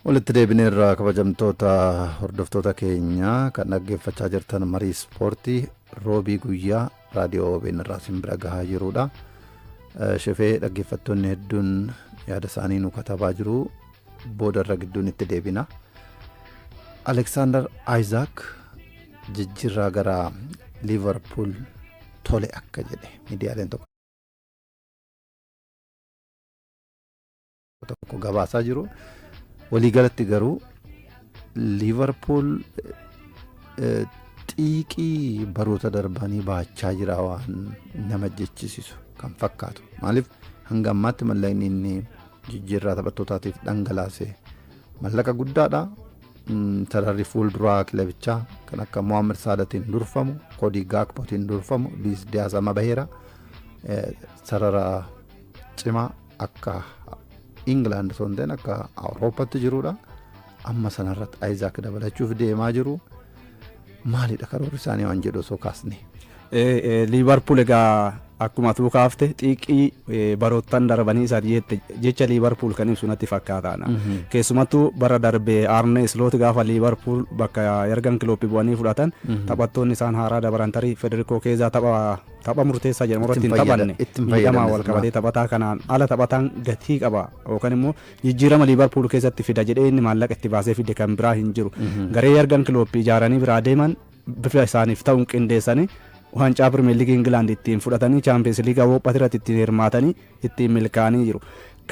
Walitti deebineerra kabajamtoota hordoftoota keenya kan dhaggeeffachaa jirtan marii ispoortii roobii guyyaa raadiyoo OBN irraa isin bira gahaa jirudha. Eh, Shefee dhaggeeffattoonni hedduun yaada isaanii nu katabaa jiru booda irra gidduun itti deebina. Aleksaandar Aayizaak jijjiirraa gara Liivarpuul tole akka jedhe miidiyaaleen tokko. tokko gabaasaa jiru. Waliigalatti garuu Liivarpuul eh, xiiqii baroota darbanii baachaa jira waan nama jechisiisu kan fakkaatu. Maaliif hanga ammaatti mallaqni inni jijjiirraa taphattootaatiif dhangalaase mallaqa guddaadha. Mm, Sararri fuulduraa kilabichaa kan akka Mohaammed Saadatiin durfamu, Kodii Gaakpotiin durfamu, Luis Diaz amma baheera. Eh, Sarara cimaa akka Ingilaand osoo hin ta'in akka Awurooppatti jirudha. Amma sanarratti Ayizaak dabalachuuf deemaa jiru. Maalidha karoorri isaanii waan jedhu osoo kaasne. Liivarpuul egaa akkuma atuu kaafte xiiqii baroottan darbanii isaati jette jecha liivarpuul kan ibsu natti fakkaataana. Keessumattuu bara darbe Arne Sloot gaafa liivarpuul bakka ergan kilooppii bu'anii fudhatan taphattoonni isaan haaraa dabaran tarii Federikoo Keezaa tapha tapha murteessaa jedhamu irratti hin taphanne miidhamaan walqabatee taphataa kanaan ala taphataan gatii qaba yookaan immoo jijjiirama liivarpuul keessatti fida jedhee inni maallaqa itti baasee fide kan biraa hin jiru garee yargan kilooppi ijaaranii biraa deeman bifa isaaniif ta'uun qindeessanii waancaa pirimeer liigii ingilaand ittiin fudhatanii chaampiyeens liigaa awurooppaa irratti ittiin hirmaatanii ittiin milkaa'anii jiru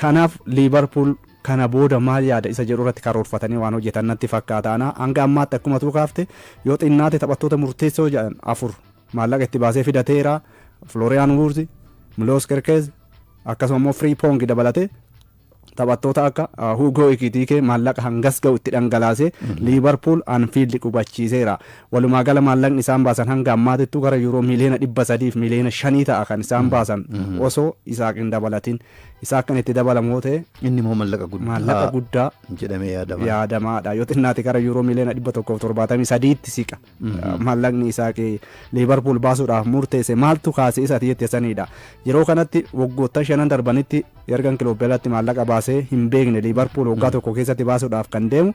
kanaaf liivarpuul kana booda maal yaada isa jedhu irratti karoorfatanii waan hojjetan natti fakkaata hanga ammaatti akkuma tuu kaafte yoo xinnaate taphattoota murteessoo jedhan afur Maallaqa itti baasee fidateera. Flooriyaan Wuurzi, Miloos Kerkeez akkasuma immoo Firiipoongi dabalatee taphattoota akka Huugoo Ikitiikee maallaqa hangas ga'u itti dhangalaasee Liivarpuul Anfiildi qubachiiseera. Walumaa gala maallaqni isaan baasan hanga ammaatittuu gara yuuroo miiliyoona dhibba sadiif miiliyoona shanii ta'a kan isaan baasan osoo Isaaq hin dabalatin. Isaaq kan itti dabalamu yoo ta'e Inni immoo mallaqa maallaqa guddaa guddaa jedhamee yaadama. yaadamaadha. Yoo xinnaate gara yuuroo miiliyoona dhibba tokkoof torbaatamii sadiitti siqa. Maallaqni Isaaq Liivarpuul baasuudhaaf murteesse maaltu kaase isa ati jette sanidha. Yeroo kanatti waggoottan shanan darbanitti Yargan Kiloop jalatti maallaqa baasee hin beekne Liivarpuul waggaa tokko keessatti baasuudhaaf kan deemu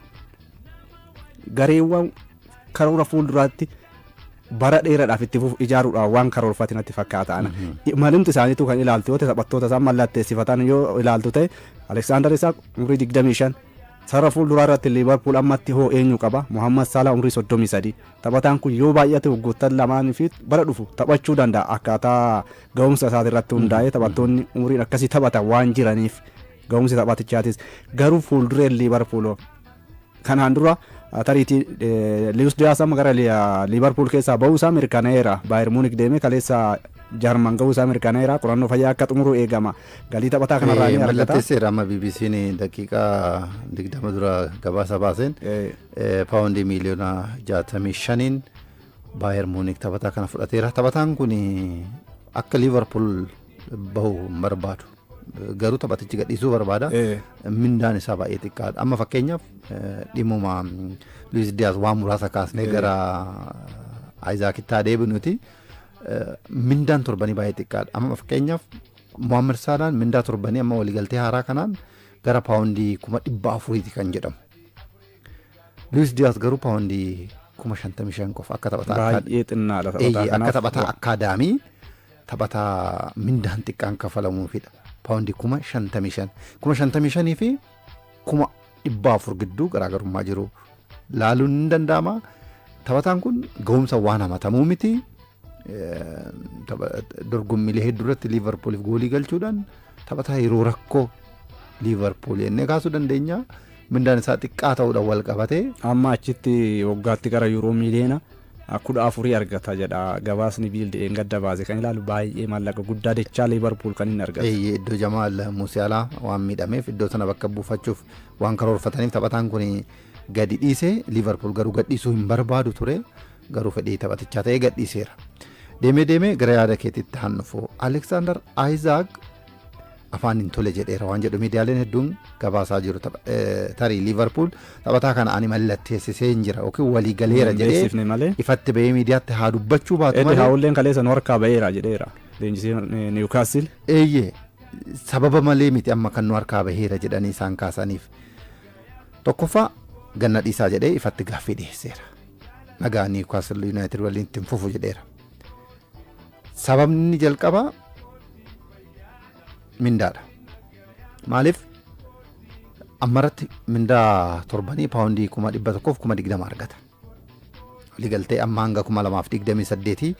gareewwan karoora fuulduraatti bara dheeraadhaaf itti fufu ijaaruudhaaf waan karoorfate natti fakkaata. Malimti isaaniitu kan ilaaltu yoo ta'e taphattoota isaan mallatteessifatan yoo ilaaltu ta'e Aleksaandar Isaaq umrii 25 Sarara fuulduraa irratti Liivarpuul ammatti hoo eenyu qaba? Mohaammad Saalaa umrii 33. Taphataan kun yoo baay'ate waggoottan lamaan fi bara dhufu taphachuu danda'a. Akkaataa ga'umsa isaati irratti hundaa'ee taphattoonni umriin akkasii taphatan waan jiraniif ga'umsi taphatichaatis. Garuu fuuldureen Liivarpuul hoo? Kanaan dura tariitii Liwus Diyaas amma gara Liivarpuul keessaa ba'uu isaa mirkanaa'eera. Baayir Muunik deemee kaleessa Jarman ga'uu isaa mirkanaa'eera. Qorannoo fayyaa akka xumuru eegama. Galii taphataa kanarraa ni argata. Mallatteesseera amma BBC'n daqiiqaa 20 dura gabaasa baaseen paawundii miiliyoona 65n Baayer Muunik taphataa kana fudhateera. Taphataan kun akka Liivarpuul bahu hin barbaadu. Garuu taphatichi gadhiisuu barbaada. Mindaan isaa baay'ee xiqqaadha. Amma fakkeenyaaf dhimmuma Luis Diyaas waan muraasa kaasnee gara Ayizaakitti haa deebinuti. mindaan torbanii baay'ee xiqqaadha. Amma fakkeenyaaf Mohaammed Saalaan mindaa torbanii amma waliigaltee haaraa kanaan gara paawundii kuma dhibba afuriiti kan jedhamu. Luis Diaz garuu paawundii kuma shantamii shan qofa akka taphataa akka Baay'ee xinnaadha taphataa Eeyyee, akka kanaaf. taphataa akkaadaamii taphataa mindaan xiqqaan kafalamuufidha. Paawundii kuma shantamii shan. Kuma shantamii shanii fi kuma dhibbaa afur gidduu garaagarummaa jiru laaluun ni danda'ama. Taphataan kun ga'umsa waan hamatamuu miti. Dorgommiilee hedduu irratti Liivarpuuliif goolii galchuudhaan taphataa yeroo rakkoo Liivarpuul jennee kaasuu dandeenya. Mindaan isaa xiqqaa ta'uudhaan wal qabatee. Amma achitti waggaatti gara yuuroo miiliyoona kudha afurii argata jedha gabaasni Biild dheengadda baase kan ilaalu baay'ee maallaqa guddaa dachaa Liivarpuul kan inni argatu. Eeyyee iddoo Jamaal Musialaa waan miidhameef iddoo sana bakka buufachuuf waan karoorfataniif taphataan kun gadi dhiise Liivarpuul garuu gadhiisuu hin barbaadu ture garuu fedhii taphatichaa ta'ee gadhiiseera. Deemee deemee gara yaada keetiitti haan dhufu Aleksaandar Ayizaak afaan hin tole jedheera waan jedhu miidiyaaleen hedduun gabaasaa jiru. Tapha- eh, Tarii Liivarpuul taphataa kana ani mallatteessisee hin jira yookiin walii galeera Hin jedhee beeksifne malee. ifatti bahee miidiyaatti haa dubbachuu baatu Eddi malee haawulleen kaleessa nu harkaa ba'eera jedheera. Leenjisiin eh, Niwukaastil. eeyyee sababa malee miti amma kan nu harkaa baheera jedhanii isaan kaasaniif. Tokkoffaa ganna dhiisaa jedhee ifatti gaaffii dhiyeesseera. Nagaa Niwukaastil Yuunaayitid waliin ittiin fufu jedheera. Sababni inni jalqabaa mindaadha. Maaliif ammarratti mindaa torbanii paawundii kuma dhibba tokkoof kuma digdama argata. Waliigaltee amma hanga kuma lamaaf digdamii saddeetii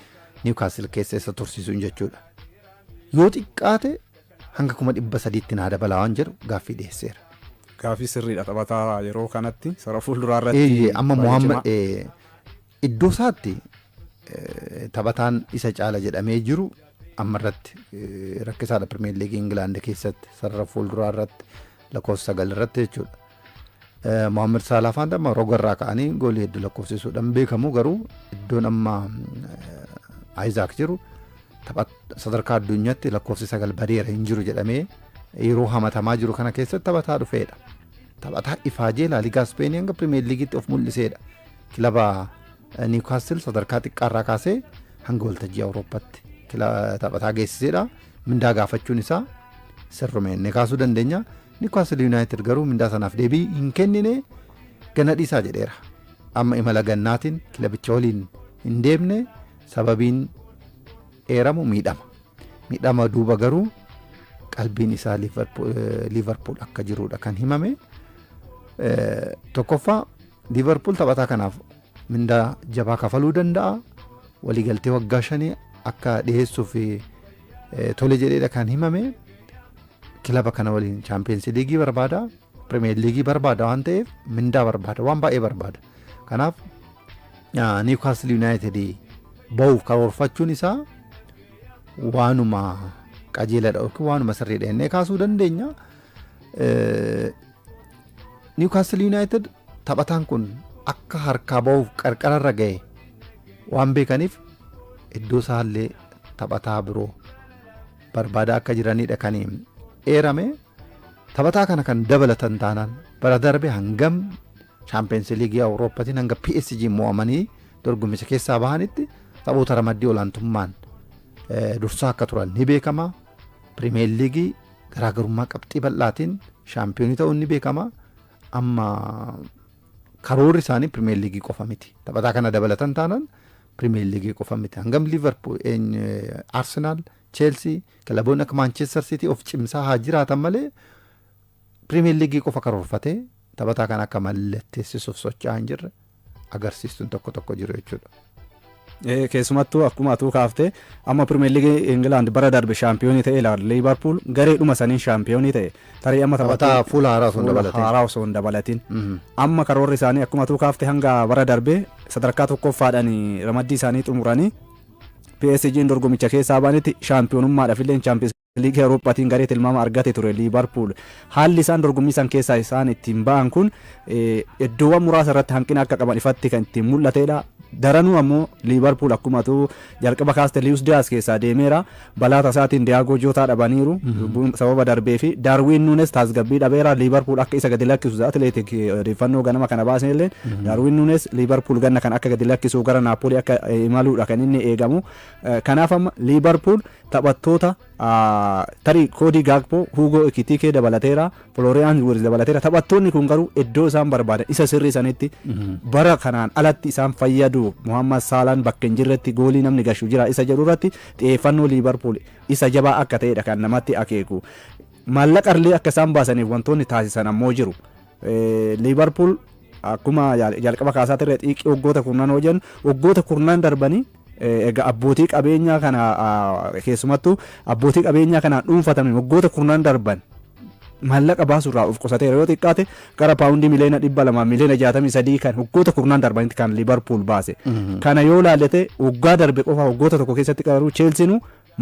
Niwkaasil keessa isa tursiisuun jechuudha. Yoo xiqqaate hanga kuma dhibba sadiitti naa dabalaa waan jedhu gaaffii dhiyeesseera. Gaaffii sirriidha taphataa yeroo kanatti sara fuulduraa irratti. Eeyyee amma baay'ee Mohaammed cimaa. eh, Iddoosaatti taphataan isa caala jedhamee jiru amma irratti rakkisaadha Pirimeer Liigii Ingilaand keessatti sarara fuulduraa irratti lakkoofsa sagal irratti jechuudha. Mohaammed Saalaah faana amma roga irraa ka'anii goolii hedduu lakkoofsisuudhaan beekamu garuu iddoon amma Ayizaak jiru sadarkaa addunyaatti lakkoofsi sagal badeera hin jiru jedhamee yeroo hamatamaa jiru kana keessatti taphataa dhufeedha. Taphataa ifaajee laaligaa Ispeenii hanga Pirimeer Liigiitti of mul'iseedha. Kilaba Niwkaastil sadarkaa xiqqaarraa kaasee hanga waltajjii Awurooppaatti taphataa geessiseedha. Mindaa gaafachuun isaa sirrume inni kaasuu dandeenya. Niwkaastil Yuunaayitid garuu mindaa sanaaf deebii hin kennine gana dhiisaa jedheera. Amma imala gannaatiin kilabicha waliin hin deemne sababiin eeramu miidhama. Miidhama duuba garuu qalbiin isaa Liivarpuul akka jirudha kan himame. Tokkoffaa Liivarpuul taphataa kanaaf mindaa jabaa kafaluu danda'a. Waliigaltee waggaa shanii akka dhiyeessuuf tole jedheedha kan himame. Kilaba kana waliin chaampiyoonsi liigii barbaada. Pirimeer liigii barbaada waan ta'eef mindaa barbaada. Waan baay'ee barbaada. Kanaaf Niwukaastil Yuunaayitid bahuuf karoorfachuun isaa waanuma qajeeladha yookiin waanuma sirriidha jennee kaasuu dandeenya. Niwkaastil Yuunaayitid taphataan kun akka harkaa bahuuf qarqararra ga'e waan beekaniif iddoo isaallee taphataa biroo barbaadaa akka jiranidha kan eerame. Taphataa kana kan dabalatan taanaan bara darbe hangam Chaampiyeensii Liigii Awurooppaatiin hanga PSG mo'amanii dorgommicha keessaa bahanitti taphoota ramaddii olaantummaan dursaa akka turan ni beekama. Pirimeer Liigii Garaagarummaa qabxii bal'aatiin shaampiyoonii ta'uun ni beekama. Amma karoorri isaanii pirimeer liigii qofa miti. Taphataa kana dabalatan taanaan pirimeer liigii qofa miti. Hangam Liivarpuul, Arsenaal, Cheelsii, kilaboonni akka Maanchestar Siitii of cimsaa haa jiraatan malee pirimeer liigii qofa karoorfatee taphataa kana akka mallatteessisuuf socho'aa hin jirre. agarsiistuun tokko tokko jiru jechuudha. keessumattuu akkuma atuu kaaftee amma pirimeer liigii Ingilaand bara darbe shaampiyoonii ta'e ilaala Liivarpuul gareedhuma saniin shaampiyoonii ta'e tarii amma Taphataa fuula haaraa osoo hin fuula dabalatin. haaraa osoo hin dabalatin Mhm. amma karoorri isaanii akkuma atuu kaafte hanga bara darbe sadarkaa tokkoffaadhaan ramaddii isaanii xumuranii PSG'n dorgomicha keessaa baanitti shaampiyoonummaadhaaf illee chaampiyoonsi Liigii Awurooppaatiin garee tilmaama argate ture Liivarpuul. Haalli isaan dorgommii san keessaa isaan ittiin ba'an kun iddoowwan muraasa irratti hanqina akka qaban ifatti kan ittiin mul'atedha. Daranuu ammoo Liivarpuul akkuma tuu jalqaba kaaste Liiyus Diyaas keessaa deemeera. Balaa tasaatiin Diyaagoo Jootaa dhabaniiru sababa darbee fi Daarwiin Nuunes tasgabbii dhabeera. Liivarpuul akka isa gadi lakkisu Atileetik odeeffannoo ganama kana baasne illee Daarwiin Nuunes Liivarpuul ganna kan akka gadi lakkisuu gara Naappoolii akka imaluudha kan inni eegamu. Kanaaf amma Liivarpuul Taphattoota tarii Koodii Gaakpoo, Huugoo Ekitiikee dabalateera, Filooriyaans Wiirz dabalateera. Taphattoonni kun garuu iddoo isaan barbaadan isa sirrii sanitti bara kanaan alatti isaan fayyadu Muhammad Saalaan bakka hin jirretti goolii namni gashu jira isa jedhu irratti xiyyeeffannoo Liivarpuul isa jabaa akka ta'edha kan namatti akeeku. Maallaqa illee akka isaan baasaniif wantoonni taasisan ammoo jiru. Liivarpuul akkuma jalqaba kaasaa ture xiiqii waggoota kurnanoo jennu waggoota kurnan darbanii Egaa abbootii qabeenyaa kana keessumattuu abbootii qabeenyaa kanaan dhuunfatame waggoota kurnan darban maallaqa baasuurraa of qusateera yoo xiqqaate gara paawundii miliyoona dhibba lamaa miliyoona jaatamii sadii kan waggoota kurnan darbanitti kan liibarpuul baase kana yoo laallate waggaa darbe qofa waggoota tokko keessatti garuu cheelsiinu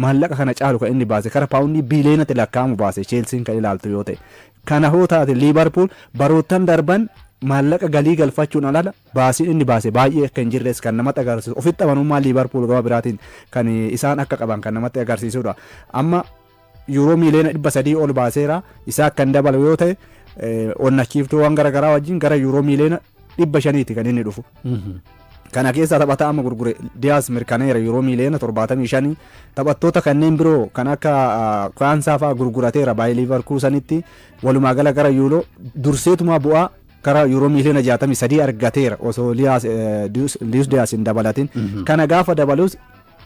maallaqa kana caalu kan inni baase gara paawundii biliyoonatti lakkaa'amu baase cheelsiin kan ilaaltu yoo ta'e kana hoo taate liibarpuul baroottan darban maallaqa galii galfachuun alala Baasiin inni baase baay'ee akka hin jirres kan namatti agarsiisu ofitti amanummaa Liivarpuul gama biraatiin kan isaan akka qaban kan namatti agarsiisudha. Amma yuuroo miiliyoona dhibba sadii ol baaseera isaa akka hin dabalu yoo ta'e onnachiiftuuwwan gara garaa wajjin gara yuuroo miiliyoona dhibba shaniiti kan inni dhufu. Kana keessaa taphataa amma gurgure Diyaas mirkaneera yuuroo miiliyoona torbaatamii shanii taphattoota kanneen biroo kan akka Kwaansaa fa'aa gurgurateera baay'ee Liivarkuusanitti walumaa gala gara yuuroo durseetumaa bu'aa gara yuuroo miiliyoona 63 argateera osoo Liyaas- eh, Liyus Liyus Diyaas hin dabalatin. Kana gaafa dabalus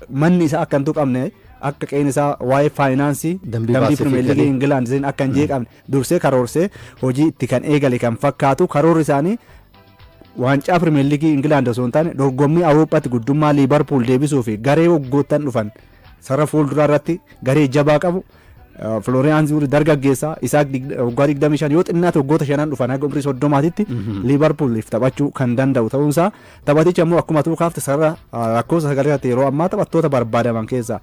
manni isaa akka hin tuqamne akka qe'een isaa waa'ee faayinaansii Dambii dambii baasee fi pirimeer liigii galii. Ingilaand isin akka hin jeeqamne dursee karoorsee hojii itti kan eegale kan fakkaatu karoorri isaanii waancaa pirimeer liigii Ingilaand osoo hin taane dorgommii Awurooppaatti guddummaa Liibarpuul deebisuu fi garee waggoottan dhufan sarara fuulduraa irratti garee jabaa qabu Florian Zuuri dargaggeessa isaa waggaa 25 yoo xinnaate waggoota shanan dhufan haga umrii 30titti Liivarpuuliif taphachuu kan danda'u ta'uunsaa taphatichi ammoo akkuma tuu kaafte sarara lakkoofsa sagalee irratti yeroo ammaa taphattoota barbaadaman keessaa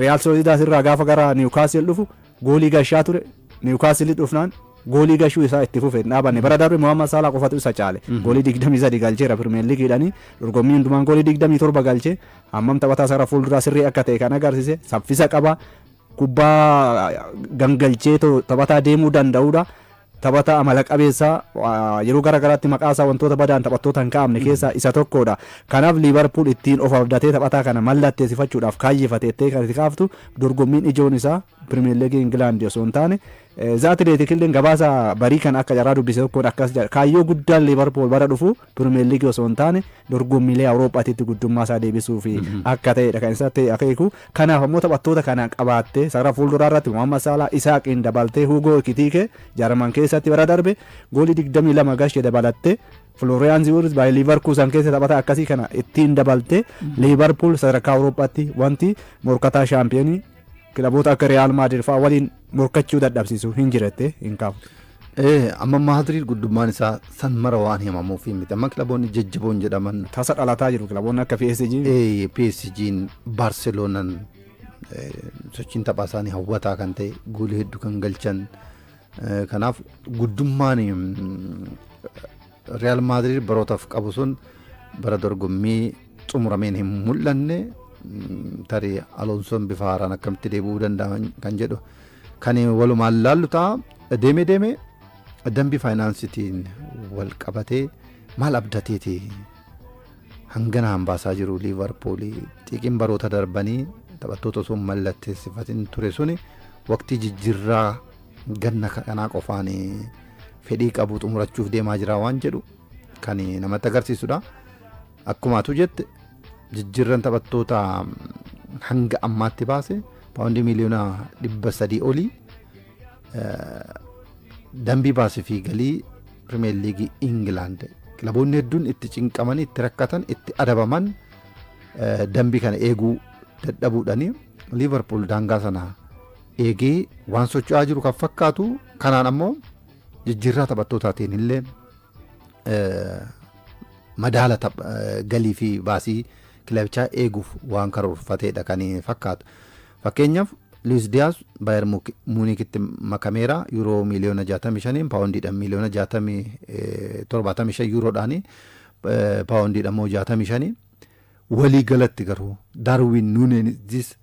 Riyaal Soolidaas irraa gaafa gara Niwukaasiil dhufu goolii gashaa ture Niwukaasiil dhufnaan goolii gashuu isaa itti fufe hin dhaabanne bara darbe Mohaammed Saalaa qofatu isa caale goolii 23 galcheera Pirimeer Liigiidhani dorgommii hundumaan goolii 27 galchee Hammam taphataa sara fuulduraa sirrii akka ta'e kan agarsise saffisa qaba. Kubbaa gangalchee taphataa deemuu danda'udha. Taphataa amala qabeessa yeroo gara garaatti maqaasaa wantoota badaan taphattoota hin kaa'amne keessaa isa tokkodha. Kanaaf Liivarpuul ittiin of abdatee taphataa kana mallatteessifachuudhaaf kaayyefate jettee kan itti kaaftu dorgommiin ijoon isaa Pirimeer Liigii Ingilaandi osoo hin taane Za Atileetikilleen gabaasa barii kana akka carraa dubbise tokkoon akkas jedha, Kaayyoo guddaan Liivarpuul bara dhufu Pirimeerliigii osoo hin taane dorgommiilee Awuroophaatitti guddummaa isaa deebisuuf akka ta'edha kan isatti akeeku. Kanaaf ammoo taphattoota kana qabaattee sarara fuulduraa irratti Mohaammed Saalaa, Isaaqiin dabaltee Huugoo Ekitiikee Jarman keessatti bara darbe goolii 22 galche dabalattee Florian Ziwurz baay'ee Liivarkuusan keessa taphataa akkasii kana ittiin dabaltee Liivarpuul sadarkaa Awuroophaatti wanti morkataa shaampiyoonii Kilaboota akka Riyaal Maadirid fa'aa waliin morkachuu dadhabsiisu hin jirette hin kaafne. Ee, amma Maadriid guddummaan isaa san mara waan himamuuf miti. Amma kilaboonni jajjaboon jedhaman Tasa dhalataa jiru kilaboonni akka PSG. ee, PSG'n, Baarseloonaan ee, sochiin taphaa isaanii hawwataa kan ta'e goolii hedduu kan galchan. Ee, Kanaaf guddummaan mm, Riyaal Maadriid barootaaf qabu sun bara dorgommii xumurameen hin mul'anne tarii Aloonsoon bifa haaraan akkamitti deebi'uu danda'a kan jedhu kan walumaan laallu ta'a. Deemee deemee dambii faayinaansitiin wal qabatee maal abdateeti hangana hambaasaa jiru liivarpuulii xiiqiin baroota darbanii taphattoota osoo mallatteessifatiin ture suni waqtii jijjiirraa ganna kanaa qofaan fedhii qabu xumurachuuf deemaa jira waan jedhu kan namatti agarsiisudha. Akkuma atu jette jijjiirran taphattoota hanga ammaatti baase paawundii miliyoona dhibba sadii olii dambii baasii fi galii pirimeer liigii Ingilaand kilaboonni hedduun itti cinqamanii itti rakkatan itti adabaman dambii kana eeguu dadhabuudhani liivarpuul daangaa sana eegee waan socho'aa jiru kan fakkaatu kanaan ammoo jijjiirraa taphattootaatiin illee eh, madaala taph- eh, galii fi baasii kilabichaa eeguuf waan karoorfateedha kan fakkaatu. Fakkeenyaaf Luis Diaz Bayer Muuk- Muunikitti makameera yuuroo miiliyoona 65 paawundiidhaan miiliyoona 60, eh, 75 yuuroodhaan eh, paawundiidhaan immoo 65 walii galatti garuu Darwin Nuuneenis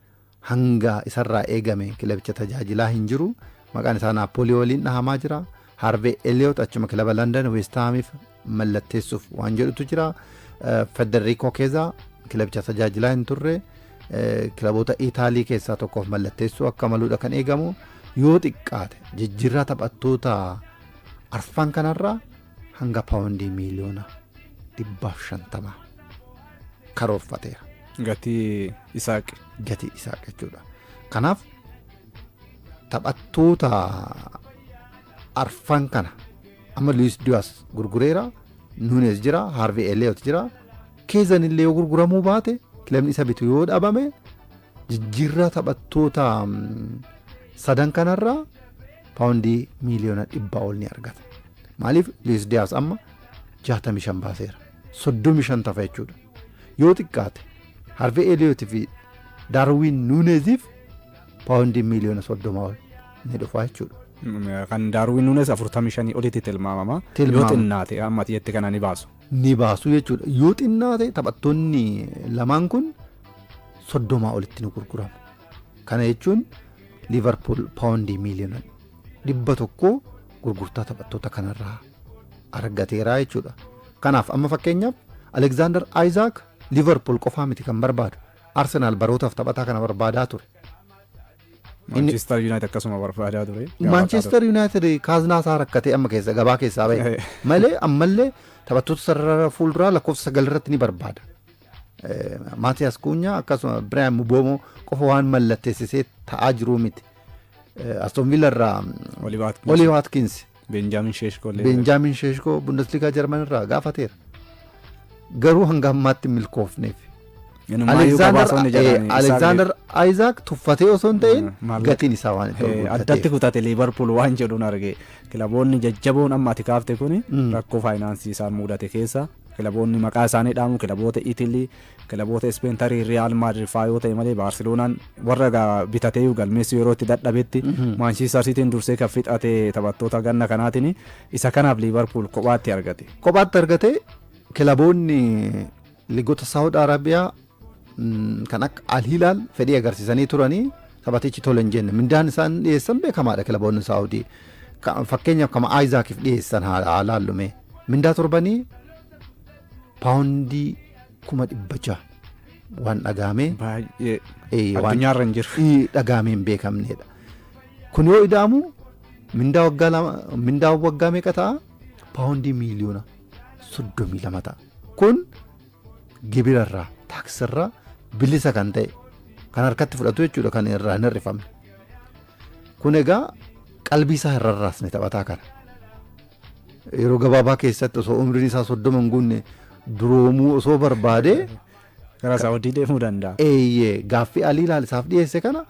Hanga isarraa eegame kilabicha tajaajilaa hin jiru. Maqaan isaa Naappoolii waliin dhahamaa jira. Haarvee Eliyoot achuma kilaba Landan Weestaamiif mallatteessuuf waan jedhutu jira. Federikoo Keezaa kilabicha tajaajilaa hin turre. Kilaboota Itaalii keessaa tokkoof mallatteessuu akka maluudha kan eegamu. Yoo xiqqaate jijjiirraa taphattoota arfan kanarraa hanga paawundii miiliyoona 150 karoorfateera. Gatii Isaaq. Gatii Isaaq jechuudha. Kanaaf taphattoota arfan kana amma Luis Diaz gurgureera, Nunes jira, Harvey Elliot jira. Keezan illee yoo gurguramuu baate kilabni isa bitu yoo dhabame jijjiirraa taphattoota sadan kanarraa paawundii miiliyoona dhibbaa ol ni argata. Maaliif Luis Diaz amma 65 baaseera. 35 tafa jechuudha. Yoo xiqqaate Harvey Elliott fi Darwin Nuneziif paawundii miiliyoona 30 ol ni dhufa jechuudha. Kan Darwin Nunes 45 olitti tilmaamama. Yoo Tilmaama. xinnaate amma ati jette kana ni baasu. Ni baasu jechuudha. Yoo xinnaate taphattoonni lamaan kun 30 olitti ni gurguramu. Kana jechuun Liivarpuul paawundii miiliyoona 100 gurgurtaa taphattoota kanarraa argateera jechuudha. Kanaaf amma fakkeenyaaf Aleksaandar Ayizaak Liivarpuul qofaa miti kan barbaadu. Arsenaal barootaaf taphataa kana barbaadaa ture. Maanchiistar Yuunaayitid akkasuma barbaadaa ture. Maanchiistar Yuunaayitid kaaznaa isaa rakkatee amma keessa gabaa keessaa bahe malee ammallee taphattoota sarara fuulduraa lakkoofsa sagal irratti ni barbaada. Maatiyaas Kuunyaa akkasuma Biraayan Muboomoo qofa waan mallatteessisee ta'aa jiruu miti. Aston Villa irraa Olii Waatkins. Beenjaamin Sheeshkoo. Beenjaamin Sheeshkoo Bundesliigaa Jarman irraa gaafateera. Garuu hanga ammaatti milkoofneef. Alexander Isaac tuffatee osoo hin ta'in gatiin isaa waan itti guddateef. Addatti kutate Liivarpuul waan jedhuun arge kilaboonni jajjaboon amma ati kaafte kun rakkoo faayinaansii isaan mudate keessa Kilaboonni maqaa isaanii dhaamu kilaboota Itilii, kilaboota Ispeen tarii Riyaal Maadrid fa'aa yoo ta'e malee Baarseloonaan warra gaa bitateeyyuu galmeessuu yeroo itti dadhabetti Maanchistar Siitiin dursee kan fixate taphattoota ganna kanaatiin isa kanaaf Liivarpuul kophaatti argate. Kophaatti argate kilaboonni liigota Saawud Arabiyaa kan akka Alhilaal fedhii agarsiisanii turanii taphatichi tole hin jenne. Mindaan isaan dhiyeessan beekamaadha kilaboonni Saawudii. Fakkeenyaaf kama Aayizaakiif dhiyeessan haa laallume. Mindaa torbanii paawundii kuma dhibba jaha waan dhagaamee. Baay'ee. Addunyaarra hin jiru. Dhagaamee hin beekamneedha. Kun yoo ida'amu mindaa waggaa lama mindaa waggaa meeqa ta'a? Paawundii miiliyoona soddomii lama ta'a. Kun gibira irraa taaksii irraa bilisa kan ta'e kan harkatti fudhatu jechuudha kan irraa hin hir'ifamne. Kun egaa qalbii isaa hin rarraasne taphataa kana. Yeroo gabaabaa keessatti osoo umriin isaa soddoma hin guunne duroomuu osoo barbaadee Karaa Saawudii deemuu danda'a. eeyyee gaaffii alii ilaal isaaf dhiyeesse kana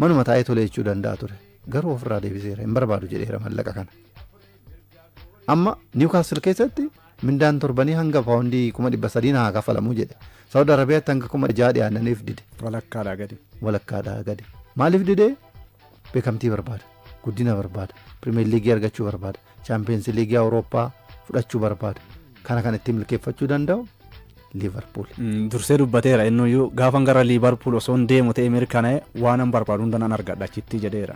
manuma taa'ee tolee jechuu danda'a ture. Garuu ofirraa deebiseera hin barbaadu jedheera mallaqa kana. Amma Niwkaastil keessatti mindaan torbanii hanga paawundii kuma dhibba sadii na haa kaffalamu jedhe. Saawud Arabiyaatti hanga kuma ja'a dhiyaannaniif dide. Walakkaadhaa gadi. Walakkaadhaa gadi. Maaliif dide? Beekamtii barbaada. Guddina barbaada. Pirimeer Liigii argachuu barbaada. Chaampiyeens Liigii Awurooppaa fudhachuu barbaada. Kana kan ittiin milkeeffachuu danda'u Liivarpuul. Dursee dubbateera innuyyuu gaafan gara Liivarpuul osoo hin deemu ta'e mirkanaa'e waanan barbaadu hunda nan argadha achitti jedheera.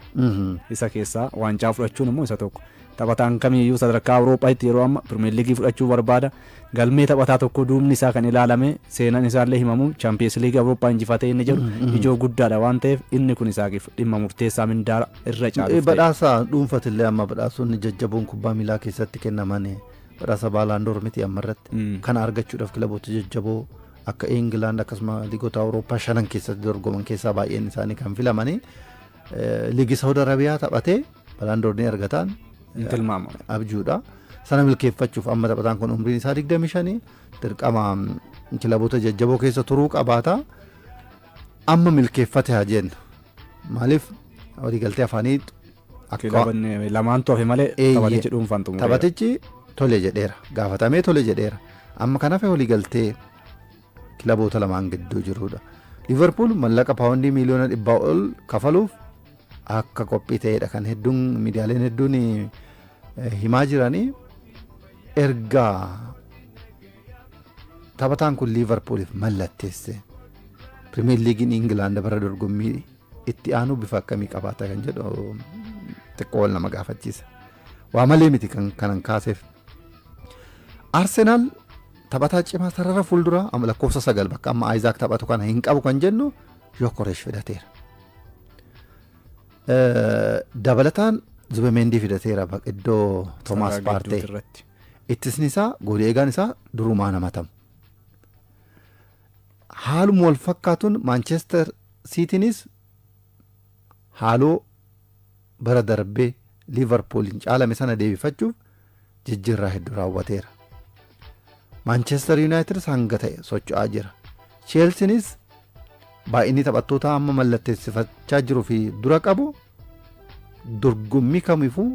Isa keessaa waancaa fudhachuun immoo isa tokko. Taphataan kamiyyuu sadarkaa Awurooppaatti yeroo amma Pirimeer Liigii fudhachuu barbaada. Galmee taphataa tokko duubni isaa kan ilaalame seenaan isaallee himamu Chaampiyeens Liigii Awurooppaa injifatee inni jedhu ijoo guddaadha waan ta'eef inni kun isaaf dhimma murteessaa mindaara irra caalu. Badhaasa dhuunfatillee amma badhaasonni jajjaboon kubbaa miilaa keessatti kennaman Badhaasa Ballon d'Or miti amma irratti. Kana argachuudhaaf kilaboota jajjaboo akka England akkasuma liigota Awurooppaa shanan keessatti dorgoman keessaa baay'een isaanii kan filamanii liigii Saawud Arabiyaa taphatee Ballon d'Or ni argataan Hin tilmaamamu. abjuudha. Sana milkeeffachuuf amma taphataan kun umriin isaa 25 dirqama kilaboota jajjaboo keessa turuu qabaata. Amma milkeeffate haa jennu. Maaliif waliigaltee afaanii Akka- Kilabanni lamaantu hafe malee Eeyyee. taphatichi dhuunfaan xumureera. Taphatichi tole jedheera. Gaafatamee tole jedheera. Amma kan hafe waliigaltee kilaboota lamaan gidduu jirudha. Liverpool mallaqa paawundii miiliyoona dhibbaa ol kafaluuf akka qophii ta'edha kan hedduun miidiyaaleen hedduun eh, himaa jiranii erga taphataan kun Liverpooliif mallatteesse. Pirimeer Liigiin Ingilaand bara dorgommii itti aanuu bifa akkamii qabaata kan jedhu xiqqoo wal nama gaafachiisa. Waa malee miti kan kanan kaaseef. Arsenaal taphataa cimaa sarara fuulduraa amma lakkoofsa sagal bakka amma Ayizaak taphatu kana hin qabu kan jennu Yokoresh fidateera. Eh, Dabalataan Zubemendii fidateera bak- iddoo Toomaas Sarara Paartee. gidduuti irratti. Ittisni isaa goolii eegaan isaa durumaa namatamu. Haaluma wal fakkaatuun Maanchester Siitiinis haaloo bara darbe Liivarpuuliin caalame sana deebifachuuf jijjiirraa hedduu raawwateera. Maanchester Yuunaayitidis hanga ta'e socho'aa jira. Cheelsiinis baay'inni taphattootaa amma mallatteessifachaa jiru fi dura qabu Dorgommii kamifuu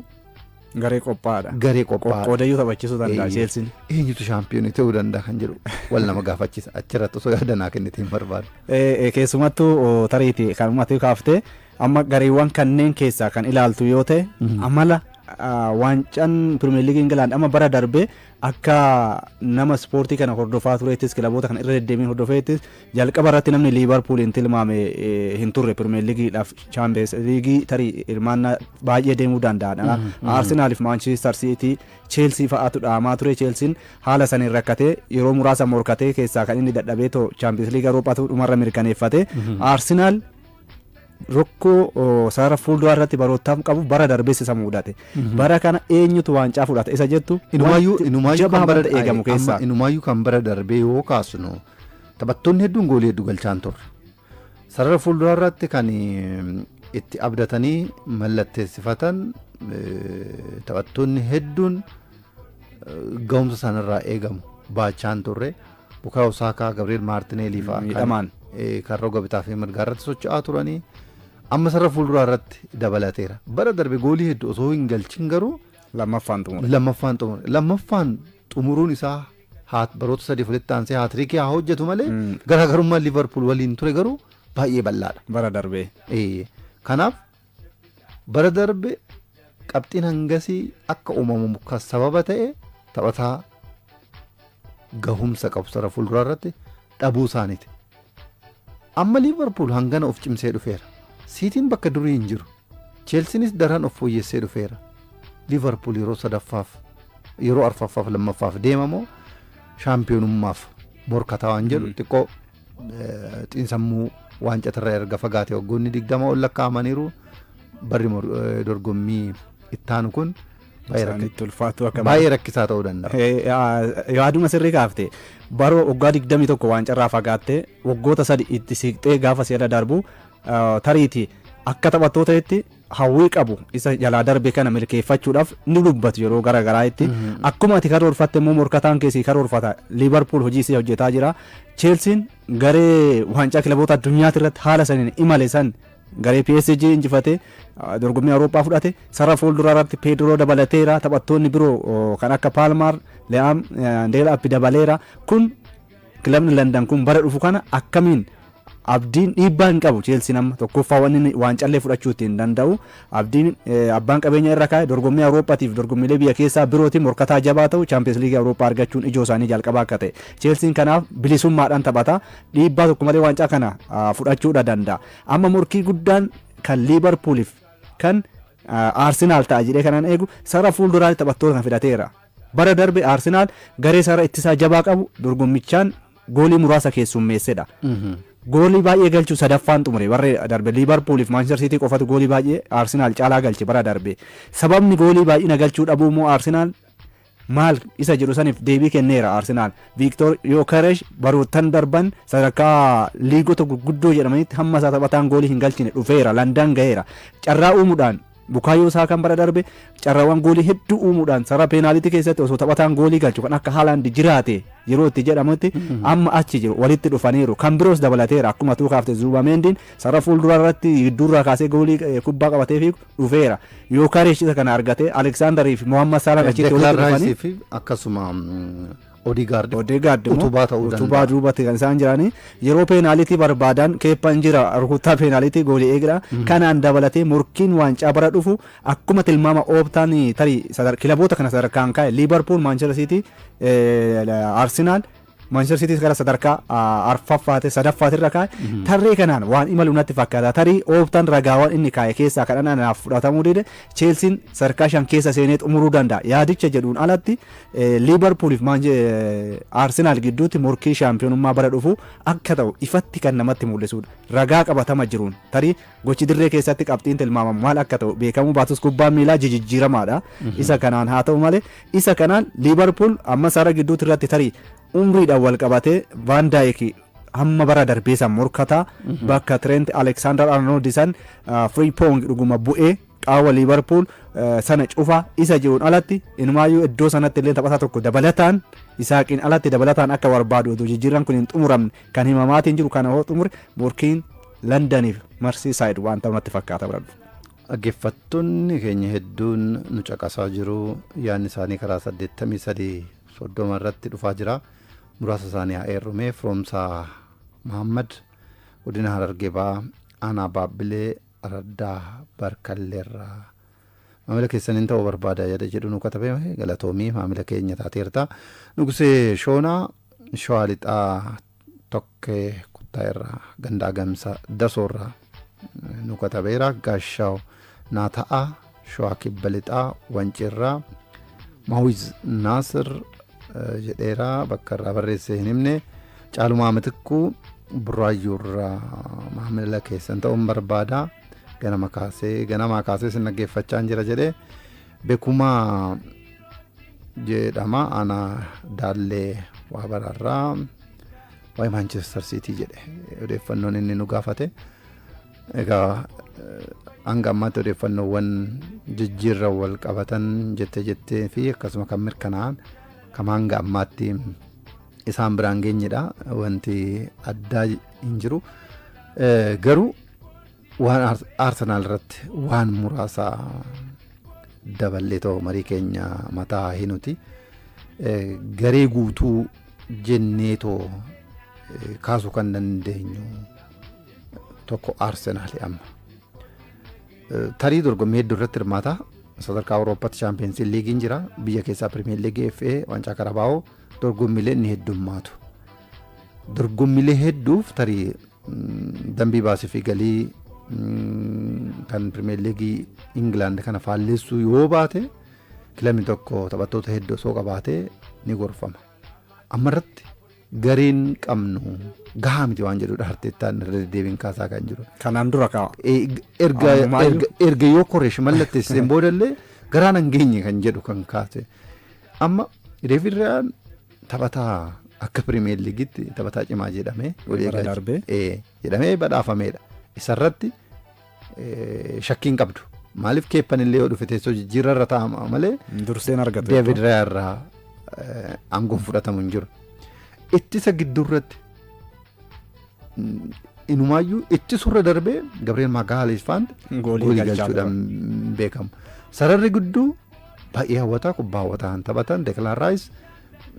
Garee qophaa'aadha. garee qophaa'aa Qoqqoodayyuu taphachiisuu danda'a Eeyyee. Cheelsiin. eenyutu shaampiyoonii ta'uu danda'a kan jedhu wal nama gaafachisa achirratti osoo yaada naa kennite hin barbaadu. Eh, eh, keessumattuu oh, tariiti kan uummatee kaaftee amma gareewwan kanneen keessaa kan ilaaltu yoo ta'e amala ah, waancaan pirimeer liigii ingilaand amma bara darbee akka nama ispoortii kana hordofaa tureettis kilaboota kana irra deddeebiin hordofeettis Jalqaba irratti namni Liivarpuuliin tilmaame hin turre Pirimeer Liigiidhaaf Chaampiyeens Liigii tarii hirmaannaa baay'ee deemuu danda'aadha. Arsenaaliif Maanchiistar Siitii Cheelsii fa'aatu dhaamaa ture. Cheelsiin haala saniin rakkatee yeroo muraasa morkatee keessaa kan inni dadhabee too Chaampiyeens Liiga Awuroopaatu dhumarra mirkaneeffate. Arsenaal Rokkoo sarara fuulduraa irratti baroottaaf qabu bara darbees isa muudate. Bara kana eenyutu waancaa fudhata isa jettu Inumaayyuu wanti inumaayyuu jabaa kan bara madda eegamu amma keessaa. inumaayyuu kan bara darbee yoo kaasnu taphattoonni hedduun goolii hedduu galchaa hin turre. Sarara fuulduraa irratti kan eh, itti abdatanii mallatteessifatan eh, taphattoonni hedduun eh, ga'umsa isaanirraa eegamu baachaa hin turre. Bukaayo Saakaa, Gabri'eel Maartineelii fa'a Miidhamaan. kan roga bitaa fi mirgaa irratti socho'aa turanii amma sarara fuulduraa irratti dabalateera. Bara darbe goolii hedduu osoo hin galchin garuu Lammaffaan xumure. lammaffaan xumure. Lammaffaan xumuruun isaa haa- baroota sadii walitti aansee haatiriikii haa hojjetu malee Mm. garaagarummaan Liivarpuul waliin ture garuu baay'ee bal'aadha. Bara darbee. Ee, Kanaaf Bara darbe qabxiin hangasii akka uumamu kan sababa ta'e taphataa gahumsa qabu sara fuulduraa irratti dhabuu isaaniiti. Amma Liivarpuul hangana of cimsee dhufeera. Siitiin bakka durii hin jiru. Cheelsiinis daran of fooyyessee dhufeera. Liivarpuul yeroo sadaffaaf yeroo arfaffaaf lammaffaaf deemamoo shaampiyoonummaaf morkataa waan jedhu xiqqoo xiinsammuu waancatarra erga fagaate waggoonni digdama ol lakkaa'amaniiru barri dorgommii ittaanu kun baay'ee rakkisaa ta'uu danda'a. Yaaduma sirrii kaafte baroo waggaa digdamii tokko waancarraa fagaattee waggoota sadi itti siiqxee gaafa si'ada darbu tariiti akka taphattootaatti hawwii qabu isa jalaa darbe kana milkeeffachuudhaaf ni dubbatu yeroo gara garaa'itti. Akkuma ati karoorfatte immoo morkataan keessi karoorfata. Liivarpuul hojii isii hojjetaa jira. Cheelsiin garee waancaa kilaboota addunyaati irratti haala saniin imale san garee PSG injifate ah, dorgommii Awurooppaa fudhate sarara fuulduraa irratti Peedroo dabalateera taphattoonni biroo oh, kan akka Paalmaar, Le'aam, eh, Deelaapi dabaleera kun Kilabni Landan kun bara dhufu kana akkamiin abdiin dhiibbaa hin qabu Cheelsiin amma tokkoffaa wanni inni waancallee fudhachuu ittiin danda'u abdiin eh, abbaan qabeenya irra kaa'e dorgommii Awurooppaatiif dorgommiilee biyya keessaa birootiin morkataa jabaa ta'u Chaampiyeens Liigii Awurooppaa argachuun ijoo isaanii jalqabaa akka ta'e Cheelsiin kanaaf bilisummaadhaan taphata dhiibbaa tokko malee waancaa kana ah, fudhachuudha danda'a amma morkii guddaan kan Liibarpuuliif kan ah, Arsenaal ta'a jedhee kanan eegu sara fuulduraatti taphattoota kan fidateera. Bara darbe Arsenaal garee sarara ittisaa jabaa qabu dorgommichaan goolii muraasa keessummeessedha. Goolii baay'ee galchuun sadaffaan xumure bara darbe. Liivarpuul fi Maanchister Siitii qofatu goolii baay'ee Arsenaal caalaa galche bara darbe. Sababni goolii baay'ina galchuu dhabuu immoo Arsenaal maal isa jedhu saniif deebii kenneera Arsenaal. Viiktoor Yookeresh baroottan darban sadarkaa liigota gurguddoo jedhamanitti hamma isaa taphataan goolii hin galchine dhufeera. Landan gaheera. Carraa uumuudhaan Bukaayoo Saakaan bara darbe carraawwan goolii hedduu uumuudhaan sarara peenaaliitii keessatti osoo taphataan goolii galchu kan akka Haalaand jiraate yeroo itti jedhamutti amma achi jiru walitti dhufaniiru kan biroos dabalateera akkuma tuu kaafte Zuubameendiin sarara fuulduraa irratti gidduurraa kaasee goolii eh, kubbaa qabatee fi dhufeera Yookareesh isa kana argatee Aleksaandarii fi Mohammad Saalaan achitti walitti Deklaan dhufanii Raayisii fi akkasuma mm, Odegaard immoo Odegaard immoo utubaa ta'uu danda'a. utubaa duubatti kan isaan jiranii yeroo peenaalitii barbaadan keeppan jira rukuttaa peenaalitii goolii eegdha kanaan dabalatee morkiin waancaa bara dhufu akkuma tilmaama ooptaan tarii sadar- kilaboota kana sadarkaan kaa'e liibarpuul maanchester siitii arsenaal maanchester siitii gara sadarkaa ah, arfaffaate sadaffaate irra kaa'e tarree kanaan waan imalu natti fakkaata tarii ooptaan ragaawwan inni kaa'e keessaa kan anaaf fudhatamuu dide cheelsiin sadarkaa shan keessa seenee xumuruu danda'a yaadicha jedhuun alatti Liivarpuul fi Arsenaal gidduutti morkii shaampiyoonummaa bara dhufu akka ta'u ifatti kan namatti mul'isudha. Ragaa qabatama jiruun tarii gochi dirree keessatti qabxiin tilmaamamu maal akka ta'u beekamuu baatus kubbaan miilaa jijijjiiramaadha. Isa kanaan haa ta'u malee isa kanaan Liivarpuul amma sara gidduutti irratti tarii umriidhaan wal qabatee Vaan Daayik hamma bara darbee san morkataa bakka Trent Alexander Arnold san Frimpong dhuguma bu'ee Qaawwa Liivarpuul sana cufa isa jiruun alatti inumaayyuu iddoo sanatti illee taphataa tokko dabalataan Isaaqiin alatti dabalataan akka barbaadu oduu jijjiirran kun hin xumuramne kan himamaatiin jiru kana hoo xumure morkiin Landaniif Marsiisaayid waan ta'u natti fakkaata bira dhufu. Dhaggeeffattoonni keenya hedduun nu caqasaa jiru yaadni isaanii karaa 83 soddoma irratti dhufaa jira muraasa isaanii haa eerrumee firoomsaa Mahammad godina Harargee ba'aa aanaa Baabbilee Araddaa Barkalleerraa Maamila keessaniin ta'uu barbaada yada jedhu nu katabe galatoomii maamila keenya taateerta Nugusee Shoonaa Shawaa Lixaa Tokkee Kuttaa irraa Gandaa Gamsa Dasoo irraa nu katabeera Gaashaaw naa ta'a Shawaa Kibba Lixaa Wancii irraa Mawiz Naasir eh, jedheera bakka irraa barreesse hin himne Caalumaa Mitikkuu Burraayyuu irraa maamila keessan ta'uun barbaada ganama kaasee ganamaa kaasee sin dhaggeeffachaa hin jira jedhee Bekumaa jedhama ana daallee waa bararraa waa'ee Maanchestar Siitii jedhe odeeffannoon inni nu gaafate. Egaa hanga ammaatti odeeffannoowwan jijjiirra wal qabatan jettee jettee fi akkasuma kan mirkanaa'an kan hanga ammaatti isaan biraan geenyedha wanti addaa hin jiru garuu waan aarsenaal irratti waan muraasa daballee ta'u marii keenya mataa hinuti garee guutuu jennee too kaasuu kan dandeenyu tokko Arsenaali amma. Eh, Tarii dorgommii hedduu irratti hirmaata. Sadarkaa Awurooppaatti Chaampiyeensii Liigiin jira. Biyya keessaa Pirimeer Liigii FA Waancaa Karabaa'oo dorgommiilee ni heddummaatu. Dorgommiilee hedduuf tarii mm, dambii baasii fi galii mm, kan Pirimeer Liigii Ingilaand kana faalleessuu yoo baate kilabni tokko taphattoota hedduu osoo qabaatee ni gorfama. Amma irratti gariin qabnu gahaa miti waan jedhudha Arteettaan irra deddeebiin kaasaa kan jiru. Kanaan dura kaa. Eh, erga Ammayyuu. erga- erga yoo koreesh mallatteesseen boodallee garaan hin geenye kan jedhu kan kaase amma Deevid Rayaan taphataa akka pirimeer liigitti taphataa cimaa jedhamee walii Bara eegaa- darbee. Eh, jedhamee badhaafameedha isarratti shakkii hin qabdu. Maaliif keeppan illee yoo dhufe teessoo jijjiirra irra taa'ama malee. Durseen argatu. Deevid Raayaa irraa aangoon fudhatamu hin jiru. Ittisa gidduurratti inumaayyuu ittisurra darbee Gabriel Magalhaes faanti goolii galchuudhaan beekamu. Sararri gidduu baay'ee hawwataa kubbaa hawwataa kan taphatan Declan Rice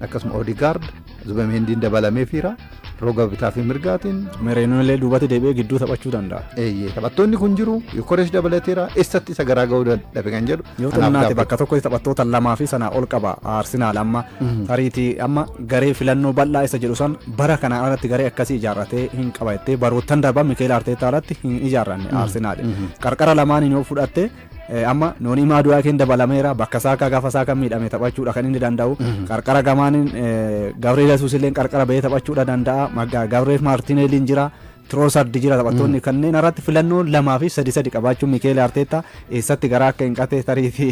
akkasuma Odegaard Zubemeendiin dabalameefiira roga bitaa fi mirgaatiin. Mereenuu illee duubatti deebi'ee gidduu taphachuu danda'a. Eeyyee taphattoonni kun jiru Yokoresh dabalateera eessatti isa garaa ga'uu dadhabe kan jedhu. Yoo ta'u naati bakka tokkotti taphattoota lamaa fi sanaa ol qaba Arsenaal amma tariitii amma garee filannoo bal'aa isa jedhu san bara kanaa alatti garee akkasii ijaarratee hin qaba jettee baroottan darban Mikeel Arteetaa alatti hin ijaarranne Arsenaal. Qarqara lamaaniin yoo fudhatte Amma Noonii Maaduwaakeen dabalameera. Bakka Saakaa gaafa Saakaan miidhame taphachuudha kan inni danda'u. Qarqara gamaaniin Gabriel Yesuus illee qarqara bahee taphachuudha danda'a. Gabriel Maartineeliin jira. Tiroosardi jira taphattoonni kanneen irratti filannoo lamaa fi sadi sadi qabaachuun Mikeeli Arteetta eessatti garaa akka hin qatee tarii fi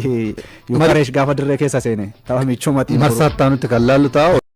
Yukareesh gaafa dirree keessa seene tapha michuu matii. Marsaa itti aanutti kan laallu ta'a.